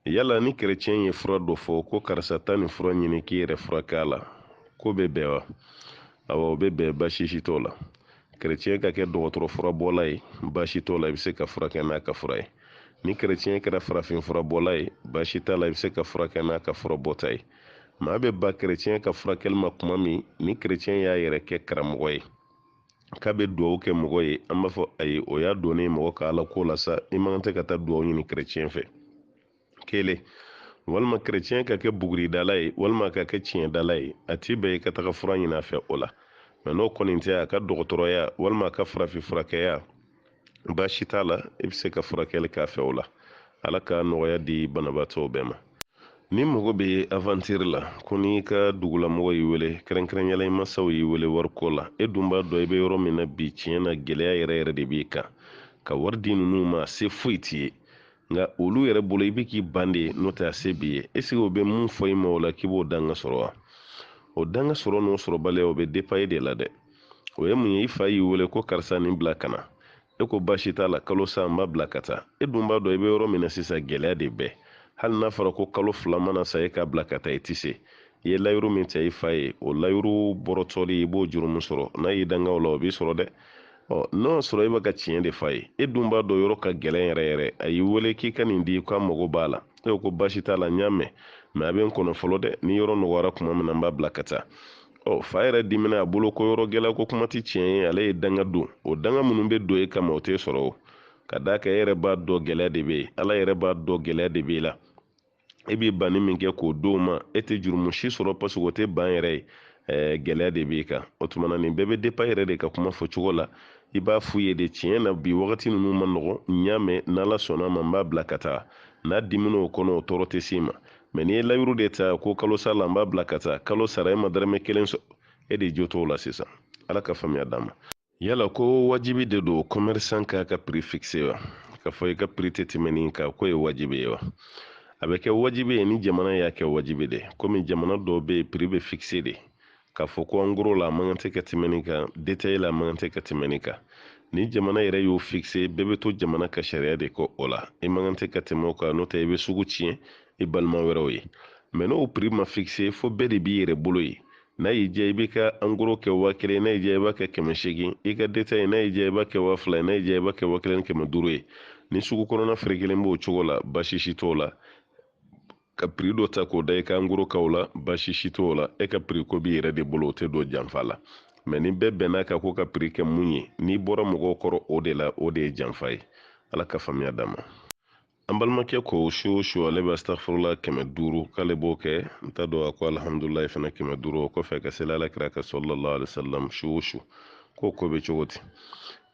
yala ni kɛrɛcɛn ye fura dɔ fɔ ko karisa taa nin fura ɲini k'i yɛrɛ furakɛ a la k'o bɛ bɛn wa awa o bɛ bɛn baasi si t'o la kɛrɛcɛn ka kɛ dɔgɔtɔrɔ furabɔla ye baasi t'o la i bɛ se ka furakɛ n'a ka fura ye ni kɛrɛcɛn kɛra farafin furabɔla ye baasi t'a la i bɛ se ka furakɛ n'a ka furabɔta ye maa bɛ ban kerecɛn ka furakɛli ma kuma min ni kerecɛn y'a yɛrɛ kɛ karamɔgɔ ye k'a bɛ dugawu kɛ mɔgɔ ye an b'a fɔ ayi o y'a donnen mɔgɔ ka ala ko la sa i man tɛ ka taa dugawu ɲini kerecɛn fɛ kelen walima kerecɛn ka kɛ buguridala ye walima ka kɛ tiɲɛdala ye a tɛ bɛn i ka taga fura ɲini a fɛ o la mɛ n'o kɔni tɛ a ka dɔgɔtɔrɔya walima a ka farafin furakɛya baasi t'a la i bɛ se ka furakɛli k'a fɛ o la ala ka nɔgɔya di banabaatɔw bɛɛ ma ni mɔgɔ bɛ avantiri la ko n'i ka dugulamɔgɔ y'i wele kɛrɛnkɛrɛnyala i masaw y'i wele wariko la e dun b'a dɔn i bɛ yɔrɔ min na bi tiɲɛ na gɛlɛya yɛrɛ yɛrɛ de b'i kan ka wari di ninnu ma se foyi t'i ye nka olu yɛrɛ bolo i bɛ k'i ban de n'o tɛ a se b'i ye eseke o bɛ mun fɔ i ma o la k'i b'o danga sɔrɔ wa o danga sɔrɔ n'o sɔrɔbaliya o bɛ depa e de la dɛ o ye mun ye i fa y'i wele ko karisa nin bila ka na e ko baasi t'a la kalo sa n b'a bila ka taa e dun b'a dɔn i bɛ yɔrɔ min na sisan gɛlɛya de bɛɛ hali n'a fɔra ko kalo fila mana sa e k'a bila ka taa i tɛ se i ye layiru min ta i fa ye o layiru bɔrɔtɔli i b'o jurumu sɔrɔ n'a y'i danga o la o b'i sɔrɔ dɛ ɔ n'o y'a sɔrɔ e bɛ ka tiɲɛ de f'a ye e dun b'a dɔn yɔrɔ ka gɛlɛn yɛrɛ yɛrɛ a y'i wele k'i ka nin di k'a mago b'a la e ko baasi t'a la n y'a mɛn mɛ a bɛ n kɔnɔ fɔlɔ dɛ ni yɔrɔ nɔgɔyara tuma min na n b'a bila ka taa ɔ fa yɛrɛ dimina a bolo ko yɔrɔ gɛlɛya ko kuma tɛ tiɲɛ ye ale ye danga don o danga minnu bɛ don e kama o t'e sɔrɔ o ka d'a kan e yɛrɛ b'a dɔn gɛlɛya de bɛ yen ala yɛrɛ b'a dɔn gɛlɛya de b'e la e bɛ banni min kɛ k'o d'o ma e tɛ jurumu si sɔrɔ paseke o tɛ ban yɛrɛ ye ɛɛ gɛlɛya de b'e kan o tuma na nin bɛɛ bɛ depa i yɛrɛ de ka kuma fɔ cogo la i b'a f'u ye de tiɲɛ na bi wagati ninnu man nɔgɔn n y'a mɛn n'ala sɔnn'a ma n b'a bila ka taa n'a dimin'o kɔnɔ o tɔɔrɔ tɛ s'i ma mɛ n'i ye layuru de ta ko kalo sa la n b'a bila ka taa kalo sara e ma dɔrɔmɛ kelen sɔrɔ e de jo t'o la sisan ala ka faamuya d'a ma yala ko wajibi de don commerçant k'a ka prix fixe wa k'a fɔ i ka prix tɛ tɛmɛ nin kan k'o ye wajibi ye wa a bɛ kɛ wajibi ye ni jamana y'a kɛ wajibi de komi jamana dɔw bɛ yen prix bɛ fixe de k'a fɔ ko angoro la a man kan tɛ ka tɛmɛ nin kan detaye la a man kan tɛ ka tɛmɛ nin kan ni jamana yɛrɛ y'o fikise bɛɛ bɛ to jamana ka sariya de kɔ o la i man kan tɛ ka tɛmɛ o kan n'o tɛ i bɛ sugu tiɲɛ i balima wɛrɛw ye mɛ n'o piri ma fikise fo bɛɛ de b'i yɛrɛ bolo ye n'a y'i diya i b'i ka angoro kɛ waa kelen n'a y'i diya i b'a kɛ kɛmɛ seegin i ka detaye n'a y'i diya i b'a kɛ waa fila ye n'a y'i diya i b'a kɛ waa kelen ni kɛmɛ duuru ye ni sugu kɔnɔna feere kelen b'o cogo la baasi si t'o la ka piri dɔ ta k'o da i ka angoro kaw la baasi si t'o la e ka piri ko b'i yɛrɛ de bolo o tɛ don janfa la mɛ ni bɛɛ bɛnn'a kan ko ka piri kɛ mun ye n'i bɔra mɔgɔw kɔrɔ o de la o de ye janfa ye ala ka faamuya d'a ma an balimakɛ ko su o su ale bɛ astafurula kɛmɛ duuru k'ale b'o kɛ n t'a dɔn a ko alihamudulilayi fana kɛmɛ duuru o kɔfɛ ka seli ala kira kan salala aleyi wasalam su o su k'o ko bɛ cogo di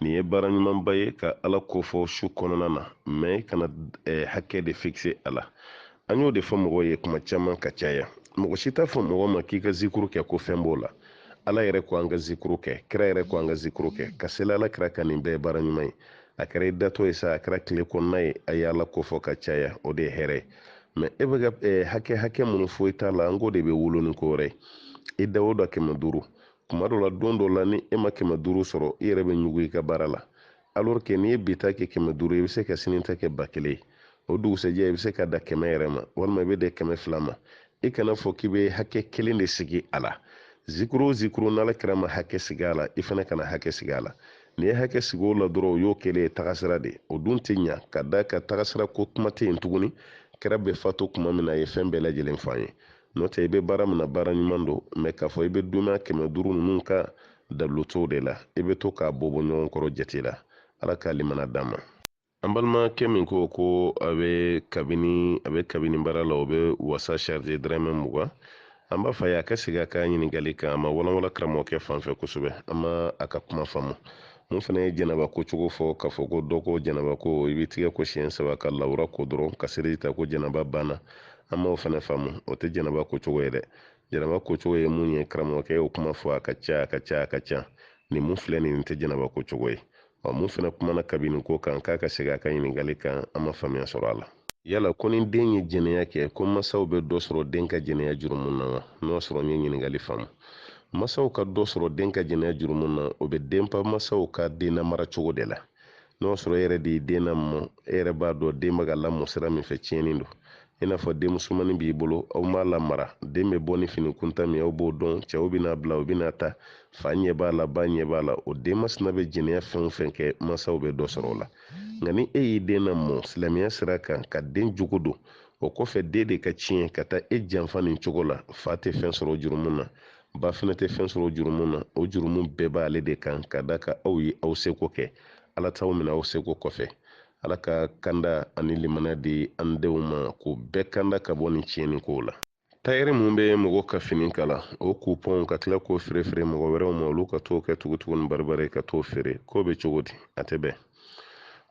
nin ye baara ɲumanba ye ka ala ko fɔ su kɔnɔna na mɛ kana eh, hakɛ de fikise a la an y'o de fɔ mɔgɔw ye kuma caman ka caya mɔgɔ si t'a fɔ mɔgɔ ma k'i ka zikuru kɛ ko fɛn b'o la ala yɛrɛ ko an ka zikuru kɛ kira yɛrɛ ko an ka zikuru kɛ ka seli ala kira kan nin bɛɛ ye baara ɲuman ye a kɛra i datɔ ye sa a kɛra tile kɔnɔna ye a ye ala ko fɔ ka caya o de ye hɛrɛ ye mɛ e bɛ ka eh, hakɛ hakɛ minnu fɔ i t'a la an k'o de bɛ wolo ni ko wɛrɛ ye i da o da kɛmɛ duuru kuma dɔ la don dɔ la ni e ma kɛmɛ duuru sɔrɔ i yɛrɛ bɛ ɲugu i ka baara la alors que n'i ye bi ta kɛ kɛmɛ duuru i bɛ se ka sini ta kɛ ba kelen ye o dugusɛjɛ i bɛ se ka da kɛmɛ yɛrɛ ma walima i bɛ da kɛmɛ fila ma i kana a fɔ k'i bɛ hakɛ kelen de sigi a la zikuru o zikuru n'ala kira ma hakɛ sigi a la i fana kana hakɛ sigi a la n'i ye hakɛ sigi o la dɔrɔn o y'o kɛlen ye tagasira de o dun tɛ ɲa ka d'a kan tagasira ko kuma tɛ yen tuguni kira bɛ fatu kuma min na a ye fɛn bɛɛ lajɛlen fɔ an ye n'o tɛ i bɛ baara min na baara ɲuman don mɛ k'a fɔ i bɛ dunan kɛmɛ duuru ninnu ka dalutow de la i bɛ to k'a bɔ bɔ ɲɔgɔn kɔrɔ jate la ala ka limana d'an ma an balimakɛ min ko ko a bɛ kabini a bɛ kabini baara la o bɛ wasa charge dɔrɔmɛ mugan an b'a fɔ a ye a ka segin a ka ɲininkali kan a ma walanwalan karamɔgɔkɛ fan fɛ kosɛbɛ an ma a ka kuma faamu mun fana ye janaba ko cogo fɔ k'a fɔ ko dɔ ko janaba ko i b'i tɛgɛ ko siɲɛ saba k'i lawura ko dɔrɔn ka seliji ta ko janaba banna an m'o fana faamu o tɛ janaba ko cogo ye dɛ janaba ko cogo ye mun ye karamɔgɔkɛ y'o kuma fɔ a ka ca a ka ca a ka ca nin mun filɛ nin tɛ janaba ko cogo ye ɔ mun fana kumana kabini ko kan k'a ka segin a ka ɲininkali kan an ma faamuya sɔrɔ a la yala ko ni den ye jɛnɛya kɛ ko masaw bɛ dɔ sɔrɔ den ka jɛnɛya jurumu na wa n'o sɔrɔ n ye ɲininkali faamu masaw ka dɔ sɔrɔ den ka jɛnɛya jurumu na o bɛ depan masaw ka den lamara cogo de la n'o sɔrɔ e yɛrɛ de ye den lamɔ e yɛrɛ b'a dɔn den bɛ ka lamɔ sira min fɛ tiɲɛnen don i n'a fɔ den musomannin b'i bolo aw m'a lamara den bɛ bɔ ni fini kuntan min aw b'o dɔn cɛw bɛ n'a bila u bɛ n'a ta fa ɲɛ b'a la ba ɲɛ b'a la o den masina bɛ jɛnɛya fɛn o fɛn kɛ mansaw bɛ dɔ sɔrɔ o la nka ni e y'i den lamɔ silamɛya sira kan ka den jogo don o kɔfɛ den de ka tiɲɛ ka taa e janfa nin cogo la fa tɛ fɛn sɔrɔ jurumu na ba fana tɛ fɛn sɔrɔ jurumu na o jurumu bɛɛ b'ale de kan ka d'a kan aw ye aw seko kɛ ala t'aw minɛ aw seko kɔfɛ ala ka kanda ani limana di an denw ma k'o bɛɛ kanda ka bɔ nin tiɲɛni kow la tayɛri mun bɛ mɔgɔ ka fini kala o kupɔnw ka tila k'o feerefeere mɔgɔ wɛrɛw ma olu ka t'o kɛ tugutugu ni baribari ka t'o feere k'o bɛ cogo di a tɛ bɛn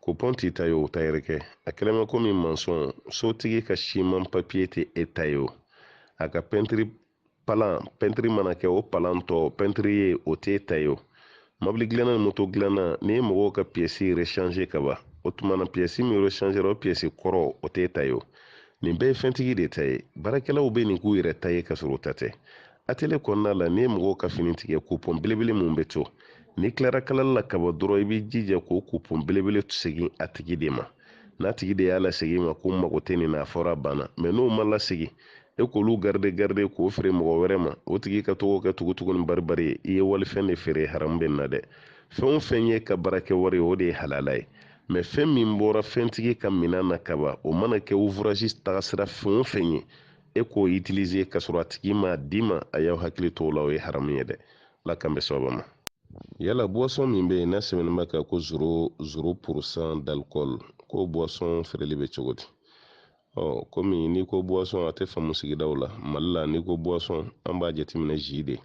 kupɔn t'i ta ye o tayɛrikɛ a kɛlen bɛ komi mansɔn sotigi ka siman papiye tɛ e ta ye o a ka pɛntiri palan pɛntiri mana kɛ o palan tɔ pɛntiri ye o t'e ta ye o mɔbili dilanna ni moto dilanna n'i ye mɔgɔw ka piyɛsi rechange ka ban o tuma na piyɛsi min rechangera o piyɛsi kɔrɔ o t'e ta ye o nin bɛɛ ye fɛntigi de ta ye baarakɛlaw bɛ nin k'u yɛrɛ ta ye ka sɔrɔ u ta tɛ atelier kɔnɔna la n'i ye mɔgɔw ka fini tigɛ kupɔn belebele min bɛ to n'i tilara kalali la ka ban dɔrɔn i b'i jija k'o kupɔn belebele segin a tigi de ma n'a tigi de y'a lasegin i ma ko n mago tɛ nin na a fɔra a banna mɛ n'o ma lasegin e k'olu garide garide k'o feere mɔgɔ wɛrɛ ma o tigi ka to k'o kɛ tugutugu ni baribari ye i ye walifɛn de feere haramu bɛ nin na dɛ fɛn o fɛn y'i ka baarakɛ wari ye o de ye halala ye mɛ fɛn min bɔra fɛntigi ka minan na ka ban o mana kɛ ouvrage tagasira fɛn o fɛn ye e k'o utiliser ka sɔrɔ a tigi m'a d'i ma a y'aw hakili to o la o ye haramu ye dɛ ala k'an bɛɛ sababa ma yala buwasɔn min bɛ yen n'a sɛbɛnnen b'a kan ko zero zero purusan d'alikɔli k'o buwasɔn feereli bɛ cogo di ɔ kɔmi n'i ko buwasɔn a tɛ faamu sigidaw la mali la n'i ko buwasɔn an b'a jateminɛ zi de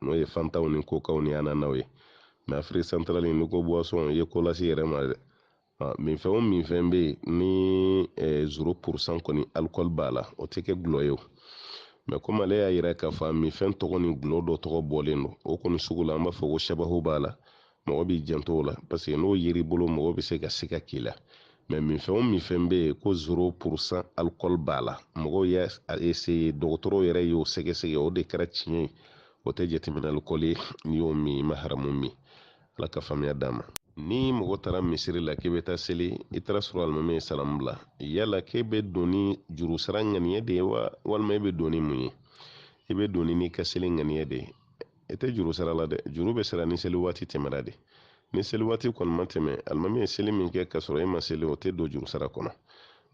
n'o ye fantaw ni kokaw ni ananaw ye mɛ afiriki santarali n'i ko buwasɔn i ye ko lase i yɛrɛ ma dɛ minfɛn o minfɛn bɛ yen ni zero purusan kɔni alikɔli b'a la o tɛ kɛ gulɔ ye o mɛ komi ale y'a yira k'a fɔ a minfɛn tɔgɔ ni gulɔ dɔ tɔgɔ bɔlen don o kɔni sugu la an b'a fɔ ko sabahu b'a la mɔgɔ b'i janto o la paseke n'o yer'i bolo mɔgɔ bɛ se ka siga k'i la mɛ minfɛn o minfɛn bɛ yen ko zero purusan alikɔli b'a la mɔgɔw y'a eseye dɔgɔtɔrɔw yɛrɛ y'o sɛgɛsɛgɛ o de kɛra tiɲɛ ye o tɛ jateminɛ alikɔli ye n'i y'o min i ma haramu min ala ka faamuya d'a ma ni mɔgɔ taara misiri la k'i bɛ taa seli i taara sɔrɔ alimami ye salamu bila yala k'e bɛ don ni juru sara ŋaniya de ye wa walima e bɛ don ni mun ye i bɛ don ni n'i ka seli ŋaniya de ye i tɛ juru sara la dɛ juru bɛ sara ni seli waati tɛmɛra de ni seli waati kɔni ma tɛmɛ alimami ye seli min kɛ k'a sɔrɔ e ma seli o tɛ don juru sara kɔnɔ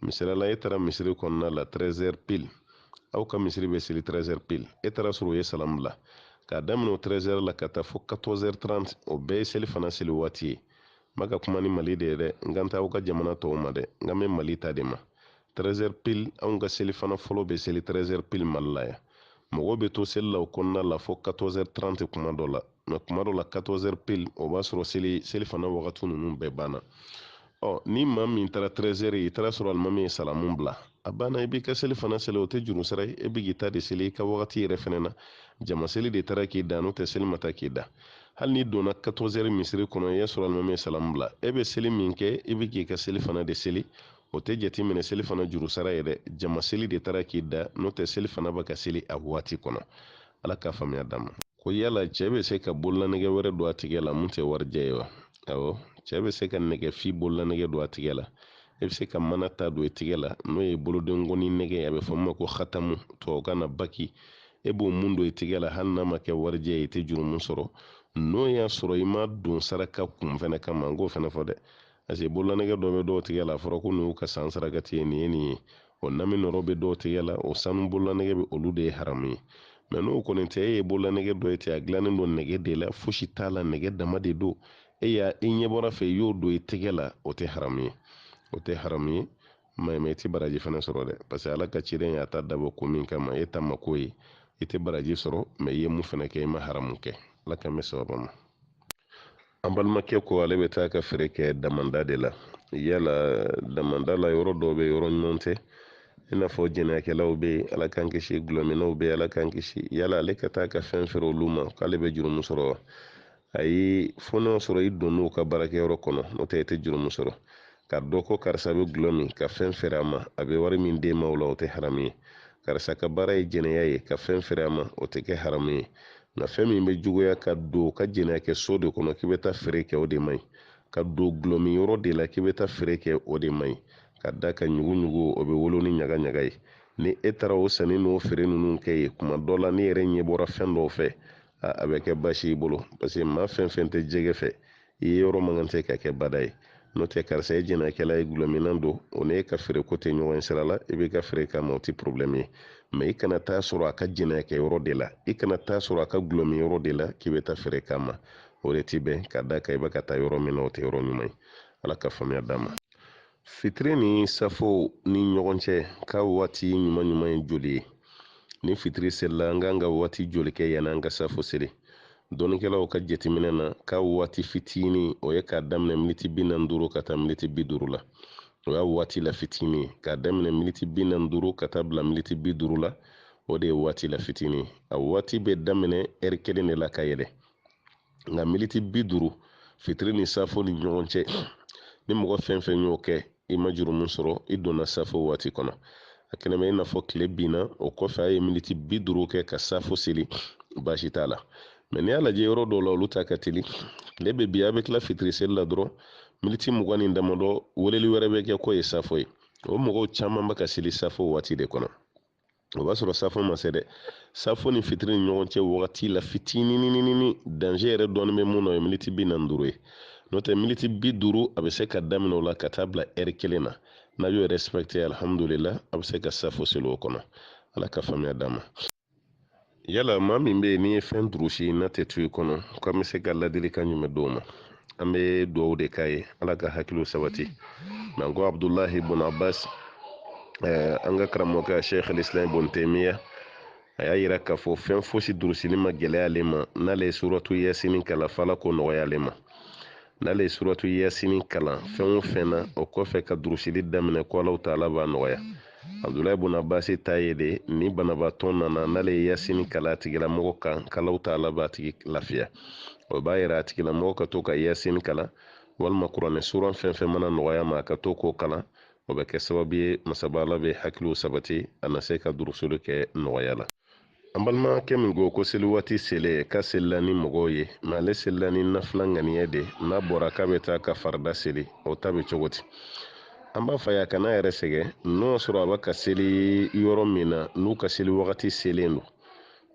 misali la e taara misiri kɔnɔna la 13 pile aw ka misiri bɛ seli 13 pile e taara sɔrɔ o ye salamu bila k'a daminɛ o 13 la ka taa fo 14 30 o bɛɛ ye selifana seli waati ye n bɛ ka kuma ni mali de ye dɛ n kan t'aw ka jamana tɔw ma dɛ n kan bɛ mali ta de ma 13 pile anw ka selifana fɔlɔ bɛ seli 13 pile mali la yan mɔgɔw bɛ to seli la o kɔnɔna la fo 14 30 kuma dɔ la mɛ kuma dɔ la 14 pile o b'a sɔrɔ seli selifana wagati ninnu bɛɛ banna ɔ ni maa min taara 13 i taara sɔrɔ alimami ye salamu bila a banna i b'i ka selifana seli o tɛ juru sara ye e bɛ k'i ta de seli i ka wagati yɛrɛ fana na jama seli de taara k'i dan n'o tɛ seli ma taa k'i dan hali n'i donna 14 misiri kɔnɔ i y'a sɔrɔ alimami ye salamu bila e bɛ seli min kɛ i bɛ k'i ka selifana de seli o tɛ jateminɛ selifana juru sara ye dɛ jama seli de taara k'i dan n'o tɛ selifana bɛ ka seli a waati kɔnɔ ala ka faamuya d'a ma ko yala cɛ bɛ se ka bololanɛgɛ wɛrɛ don a tigɛ la mun tɛ warijɛ ye wa awɔ cɛ bɛ se ka nɛgɛfin bololanɛgɛ don a tigɛ la e bɛ se ka mana ta don i tigɛ la n'o ye bolodenkɔni nɛgɛ ye a bɛ fɔ min ma ko hatamu tubabukan na bague e b'o mun don i tigɛ la hali n'a ma kɛ warijɛ ye i tɛ jurumu sɔrɔ n'o y'a sɔrɔ i m'a don saraka kun fɛnɛ kama n k'o fɛnɛ fɔ dɛ parce que bololanɛgɛ dɔ bɛ dɔw tigɛ la a fɔra ko nin y'u ka san sarakati ye nin ye nin ye o nami nɔrɔ bɛ dɔw tigɛ la o sanu bololanɛgɛ bɛ olu de ye haramu ye mais n'o kɔni tɛ e ye bololanɛgɛ dɔ ye ten a dilannen don nɛgɛ de la fosi t'a la nɛgɛ dama de don e y'a i ɲɛ bɔr'a fɛ i y'o don i tɛgɛ la o tɛ haramu ye o tɛ haramu ye mais mais i tɛ baraji fana sɔrɔ dɛ parce que ala ka ciden y'a ta dabɔ ko min kama e ta ma k'o ye i tɛ baraji sɔrɔ mais i ye mun fana kɛ i ma haramu kɛ ala k'an bɛn sababa ma an balimakɛ ko ale bɛ taa ka feere kɛ damanda de la yala damanda la yɔrɔ dɔw bɛ yɔrɔ ɲuman tɛ i n'a fɔ jɛnɛyakɛlaw bɛ yen ala k'an kisi gulɔminnaw bɛ yen ala k'an kisi yala ale ka taa ka fɛn feere olu ma k'ale bɛ jurumu sɔrɔ wa ayi fo n'a sɔrɔ i donn'u ka baarakɛyɔrɔ kɔnɔ n'o tɛ i tɛ jurumu sɔrɔ k'a dɔn ko karisa bɛ gulɔ min ka fɛn feere a ma a bɛ wari min d'e ma o la o tɛ haramu ye karisa ka baara ye jɛnɛya ye ka fɛn feere a ma o tɛ kɛ haramu ye nka fɛn min bɛ juguya ka don ka jɛnɛya kɛ so de kɔnɔ k'i bɛ taa feere kɛ o de man ɲi ka don gulɔmin yɔrɔ de la k'i bɛ taa feere kɛ o de man ɲi ka da kan ɲuguɲugu o bɛ wolo ni ɲaga ɲaga ye ni e taara o sanni n'o feere ninnu kɛ yen kuma dɔ la n'i yɛrɛ ɲɛ bɔra fɛn dɔw fɛ a bɛ kɛ baasi y'i bolo parce que maa fɛn fɛn tɛ jɛgɛ fɛ i yeyɔrɔ man kan tɛ ka kɛ bada ye n'o tɛ karisa ye jɛnɛyakɛla ye gulɔminna don o n'e ka feere ko tɛ ɲɔgɔn sira la i bɛ ka feere k'a ma o tɛ porobilɛmu ye mais i kana taa sɔrɔ a ka jɛnɛyakɛ yɔrɔ de la i kana taa sɔrɔ a ka gulɔmin yɔrɔ de la k'i bɛ taa feere k'a ma o de ti bɛn ka da kan i bɛ ka taa yɔrɔ min na o tɛ yɔrɔ ɲuman ye ala ka faamuya d'an ma fitiri ni safo ni ɲɔgɔn cɛ k'a waati ɲuman ɲuman ye joli ye ni fitiri selila an ka kan ka waati joli kɛ yanni an ka safo seli dɔnnikɛlaw ka jateminɛ na k'a waati fitini o ye k'a daminɛ militi bi naani duuru ka taa militi bi duuru la o y'a waati la fitini ye k'a daminɛ militi bi naani duuru ka taa bila militi bi duuru la o de ye waati la fitini ye a waati bɛ daminɛ ɛri kelen de la ka yɛlɛ nka militi bi duuru fitiri ni safo ni ɲɔgɔn cɛ ni mɔgɔ fɛn fɛn y'o kɛ i ma jurumu sɔrɔ i donna safo waati kɔnɔ a kɛlen bɛ i n'a fɔ tile binna o kɔfɛ a ye militi bi duuru kɛ ka safo seli baasi t'a la mais n'i y'a lajɛ yɔrɔ dɔw la olu ta ka teli tile bɛ bin a bɛ tila fitiri seli la dɔrɔn militi mugan ni damadɔ weleli wɛrɛ bɛ kɛ k'o ye safo ye o mɔgɔw caman bɛ ka seli safo waati de kɔnɔ o b'a sɔrɔ safo ma se dɛ safo ni fitiri ni ɲɔgɔn cɛ wagati la fitininini danger yɛrɛ dɔɔni bɛ mun na o ye miniti bi naani duuru ye n'o tɛ miniti bi duuru a bɛ se ka daminɛ o la ka taa bila ɛri kelen na n'a y'o respecté alihamudulila a bɛ se ka safo seli o kɔnɔ ala ka faamuya d'an ma yala maa min bɛ yen n'i ye fɛn durusi n'a tɛ to i kɔnɔ ko an bɛ se ka ladilikan jumɛn d'o ma an bɛ dugawu de k'a ye ala ka hakiliw sabati mɛ n ko abudulahi bun abbas eh, an ka karamɔgɔkɛ sheikh alislam bun taymiya a y'a yira k'a fɔ fɛn fosi durusili ma gɛlɛya ale ma n'ale ye suratu yasini kalan f'ala k'o nɔgɔya ale ma n'ale ye suratu yasini kalan fɛn o fɛn na o kɔfɛ ka durusili daminɛ ko alaw taala b'a nɔgɔya abudulayi bun abasi ta ye de ni banabaatɔ nana n'ale ye yasini kalan a tigilamɔgɔ kan k'alaw taala b'a tigi lafiya o b'a yira a tigilamɔgɔ ka to ka yasini kalan walima kuranɛ suran fɛn fɛn mana nɔgɔy'a ma a ka to k'o kalan o bɛ kɛ sababu ye masaba ala bɛ hakiliw sabati a na se ka durusili kɛ nɔgɔya la an balimakɛ min ko ko seli waati selen k'a selila ni mɔgɔw ye mɛ ale selila ni nafila ŋaniya de n'a bɔra k'a bɛ taa ka farida seli o ta bɛ cogo di an b'a f'a ye a kan'a yɛrɛ sɛgɛn n'o y'a sɔrɔ a bɛ ka seli yɔrɔ min na n'u ka seli wagati selen don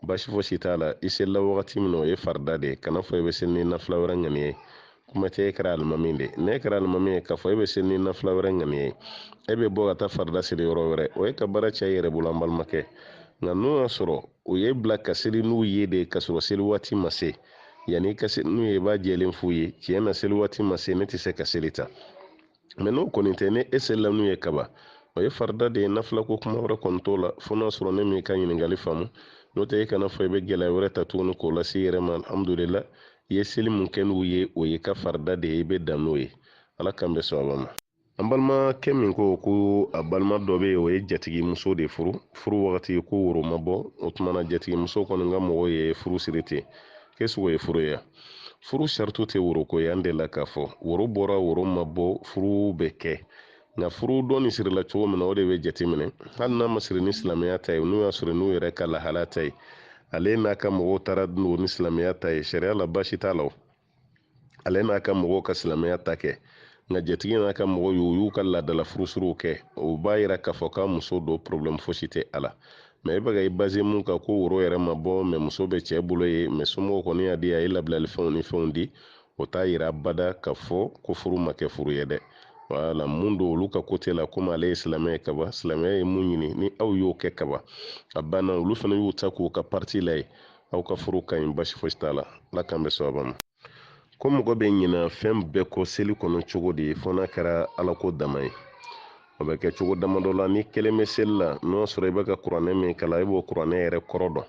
baasi fosi t'a la i selila wagati min na o ye farida de ye kan'a fɔ i bɛ seli ni nafila wɛrɛ ŋaniya ye kuma tɛ e kɛra alimami de ye n'e kɛra alimami ye k'a fɔ e bɛ seli ni nafila wɛrɛ ŋaniya ye e bɛ bɔ ka taa farida seli yɔrɔ wɛrɛ o ye ka baara caya i yɛrɛ bolo an balimakɛ nka n'o y'a sɔrɔ u y'i bila ka seli n'u ye de ka sɔrɔ seli waati ma se yanni i ka seli n'u ye i b'a jɛlen f'u ye tiɲɛ na seli waati ma se ne tɛ se ka seli ta mɛ n'o kɔni tɛ n'e selila n'u ye kaba o ye farida de ye nafila ko kuma wɛrɛ kɔni t'o la fo n'a sɔrɔ ne m'i ka ɲininkali faamu n'o tɛ e kan'a fɔ i bɛ gɛlɛya wɛrɛ ta tuguni k'o lase i yɛrɛ ma alhamdulila i ye seli mun kɛ n'u ye o y'i ka farida de ye i bɛ dan n'o ye ala k'an bɛ sɔn a ma an balimakɛ min ko ko a balima dɔ bɛ yen o ye jatigimuso de furu furu wagati ko woro ma bɔ o tuma na jatigimuso kɔni ka mɔgɔw ye furu siri ten k'o sugu ye furu ye furu sarati tɛ woro ko ye an delila k'a fɔ woro bɔra woro ma bɔ furu bɛ kɛ nka furu dɔnni sirila cogo min na o de bɛ jateminɛ hali n'a ma siri ni silamɛya ta ye n'u y'a siri n'u yɛrɛ ka lahala ta ye ale n'a ka mɔgɔw taara don ni silamɛya ta ye sariya la baasi t'a la o ale n'a ka mɔgɔw ka silamɛya ta kɛ nka jatigi n'a ka mɔgɔw u y'u ka laadala furusiriw kɛ o b'a yira k'a fɔ k'a muso don porobilɛmu fosi tɛ a la mɛ e bɛ ka i baze mun kan ko woro yɛrɛ ma bɔ mɛ muso bɛ cɛ bolo yen mɛ somɔgɔw kɔni y'a di a ye labilali fɛnw ni fɛnw di o t'a yira abada k'a fɔ ko furu ma kɛ furu ye dɛ wala mun don olu ka kote la komi ale ye silamɛ ye kaba silamɛya ye mun ɲini ni aw y'o kɛ kaba a banna olu fana y'u ta k'u ka parti la yen aw ka furu ka ɲi baasi fosi t'a la ala k'an bɛn sawaba ma ko mɔgɔ bɛ ɲina fɛn bɛɛ kɔ seli kɔnɔ cogo di fo n'a kɛra ala ko dama ye o bɛ kɛ cogo damadɔ la n'i kelen bɛ seli la n'o y'a sɔrɔ i bɛ ka kuranɛ min kalan i b'o kuranɛ yɛrɛ kɔrɔ dɔn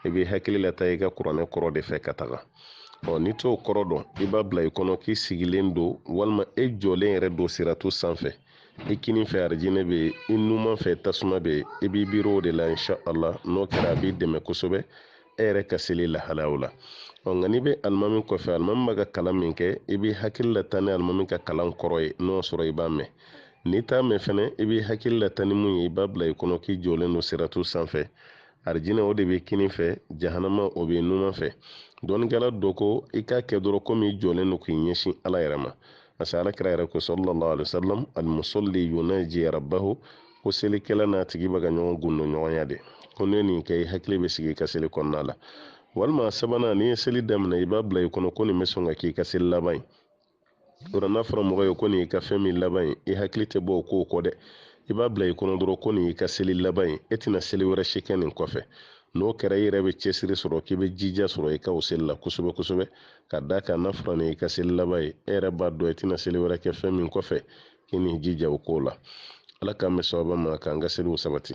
i b'i hakili lataa i ka kuranɛ kɔrɔ de fɛ ka taga ɔ n'i t'o kɔrɔ dɔn i b'a bila i kɔnɔ k'i sigilen don walima e jɔlen yɛrɛ don siratu sanfɛ i kinin fɛ arijinɛ bɛ yen i numan fɛ tasuma bɛ yen i b'i miiri o de la insha allah n'o kɛra a b'i dɛmɛ kosɛbɛ e yɛrɛ ka seli lahalayaw la ɔ nka n'i bɛ alimami kɔfɛ alimami b'a ka kalan min kɛ i b'i hakili la tan ni alimami ka kalan kɔrɔ ye n'o sɔrɔ i b'a mɛn n'i t'a mɛn fɛnɛ i b'i hakili la tan ni mun ye i b'a bila i kɔnɔ k'i jɔlen don siratu sanfɛ arijinɛ o de b'i kinin fɛ jahanama o b'i numan fɛ dɔnnikɛla dɔ ko i k'a kɛ dɔrɔn komi i jɔlen don k'i ɲɛsin ala yɛrɛ ma parce que ala kira yɛrɛ ko sallallahu alaihi wasallam al musalli yunaji rabbahu ko selikɛla n'a tigi bɛ ka ɲɔgɔn gundo ɲɔgɔnya de ko n'i ye nin kɛ i hakili bɛ sigi i ka seli kɔnɔna la walima sabanan n'i ye seli daminɛ i b'a bila i kɔnɔ ko nin bɛ sɔn ka k'i ka seli laban ye o la n'a fɔra mɔgɔ ye ko nin y'i ka fɛn min laban ye i hakili tɛ bɔ o kow kɔ dɛ i b'a bila i kɔnɔ dɔrɔn ko nin y'i ka seli laban ye e tɛna seli wɛrɛ si kɛ nin kɔfɛ n'o kɛra i yɛrɛ bɛ cɛsiri sɔrɔ k'i bɛ jija sɔrɔ i ka o seli la kosɛbɛ kosɛbɛ ka d'a kan n'a fɔra nin y'i ka seli laban ye e yɛrɛ b'a dɔn i tɛna seli wɛrɛ kɛ fɛn min kɔfɛ k'i n'i jija o ko la ala k'an bɛn sawaba ma k'an ka seliw sabati